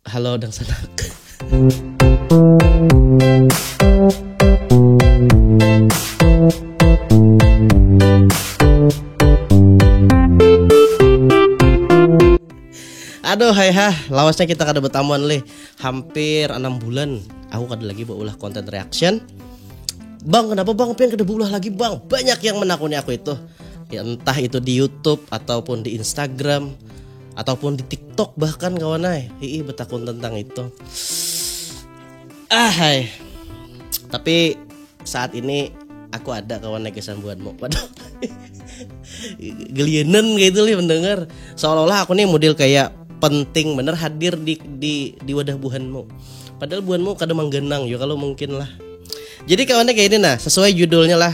Halo dangsanak. Aduh hai ha, lawasnya kita kada bertamuan leh hampir enam bulan. Aku kada lagi berulah konten reaction. Bang, kenapa bang pian kada berulah lagi bang? Banyak yang menakuni aku itu. Ya, entah itu di YouTube ataupun di Instagram ataupun di TikTok bahkan kawan ay ii bertakun tentang itu ah hai tapi saat ini aku ada kawan lagi sambuanmu waduh gelienen gitu li mendengar seolah-olah aku nih model kayak penting bener hadir di di di wadah buhanmu padahal buhanmu kadang menggenang ya kalau mungkin lah jadi kawannya kayak ini nah sesuai judulnya lah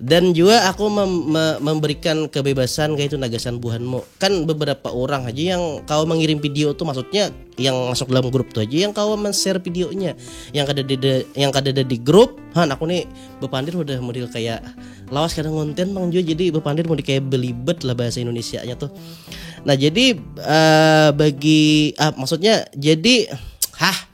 Dan jua aku mem, me, memberikan kebebasan kaitu nah gasan buhanmu. Kan beberapa orang aja yang kawa mengirim video tuh maksudnya yang masuk dalam grup tuh aja yang kawa men-share videonya. Yang kada ada yang kada ada di grup, han aku nih bepandir udah model kayak lawas kada ngonten mang jua jadi bepandir model kayak belibet lah bahasa Indonesia-nya tuh. Nah, jadi uh, bagi uh, maksudnya jadi hah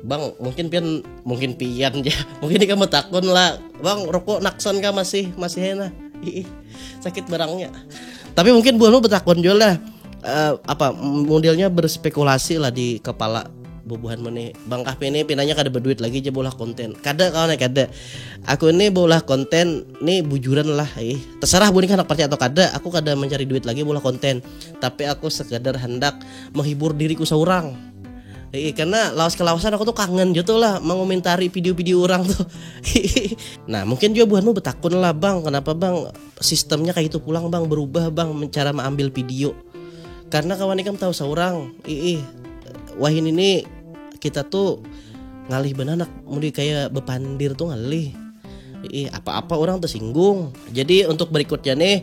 Bang, mungkin pian mungkin pian ya. Mungkin ini kamu takun lah. Bang, rokok nakson kah masih masih enak. Ih, sakit barangnya. Tapi mungkin buahmu betakun juga lah. Uh, apa modelnya berspekulasi lah di kepala bubuhan mana Bang Kahpi ini pinanya kada berduit lagi aja bola konten kada kawan kada aku ini bola konten ini bujuran lah eh terserah bu ini anak percaya atau kada aku kada mencari duit lagi bola konten tapi aku sekadar hendak menghibur diriku seorang Iya, karena lawas kelawasan aku tuh kangen gitu lah mengomentari video-video orang tuh. nah mungkin juga buahmu betakun lah bang, kenapa bang sistemnya kayak itu pulang bang berubah bang cara mengambil video. Karena kawan ikam tahu seorang, ih wahin ini kita tuh ngalih benanak, mudi kayak bepandir tuh ngalih. Ih apa-apa orang tersinggung. Jadi untuk berikutnya nih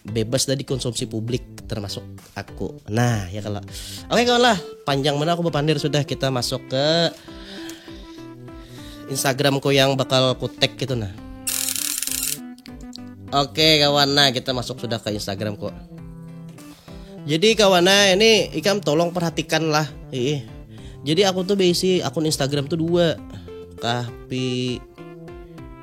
bebas dari konsumsi publik termasuk aku nah ya kalau oke kawan lah panjang mana aku berpandir sudah kita masuk ke Instagramku yang bakal aku tag gitu nah oke kawan nah kita masuk sudah ke Instagramku jadi kawan nah ini ikam tolong perhatikan lah Ih. jadi aku tuh basic akun Instagram tuh dua tapi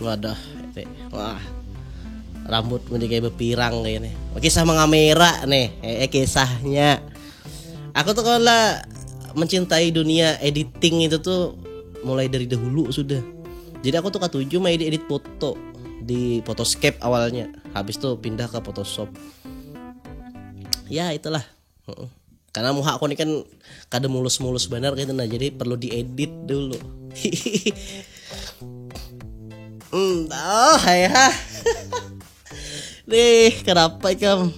Wadah nih, wah rambut mending kayak bepirang kayak nih. Kisah mengamera nih, eh, eh kisahnya. Aku tuh kalau lah mencintai dunia editing itu tuh mulai dari dahulu sudah. Jadi aku tuh katuju main edit foto di Photoscape awalnya. Habis tuh pindah ke Photoshop. Ya itulah Karena muha aku ini kan kada mulus-mulus benar gitu nah, jadi perlu diedit dulu. Hmm, oh, hai ha. Nih, kenapa ikam?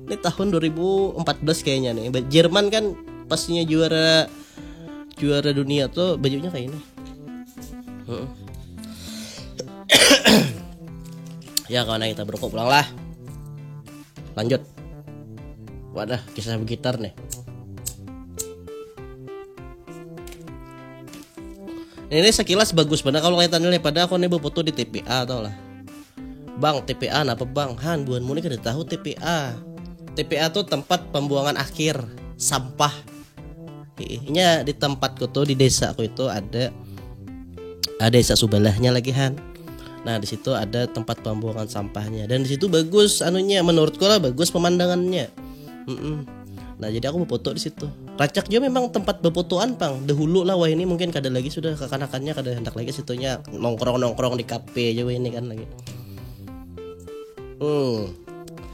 Ini tahun 2014 kayaknya nih. Jerman kan pastinya juara juara dunia tuh bajunya kayak ini. Hmm. ya kawan kita berokok pulang lah. lanjut wadah kisah gitar nih ini sekilas bagus bener kalau kaitan ini pada aku nih foto di TPA tau lah bang TPA apa bang han buan muni kada tahu TPA TPA tuh tempat pembuangan akhir sampah Inya di tempatku tuh di desaku itu ada ada ah, desa sebelahnya lagi Han. Nah di situ ada tempat pembuangan sampahnya dan di situ bagus anunya menurutku lah bagus pemandangannya. Mm -mm. Nah jadi aku foto di situ. Racak juga memang tempat bepotoan pang. Dahulu lah wah ini mungkin kada lagi sudah kekanakannya kada hendak lagi situnya nongkrong nongkrong di kafe aja ini kan lagi. Hmm.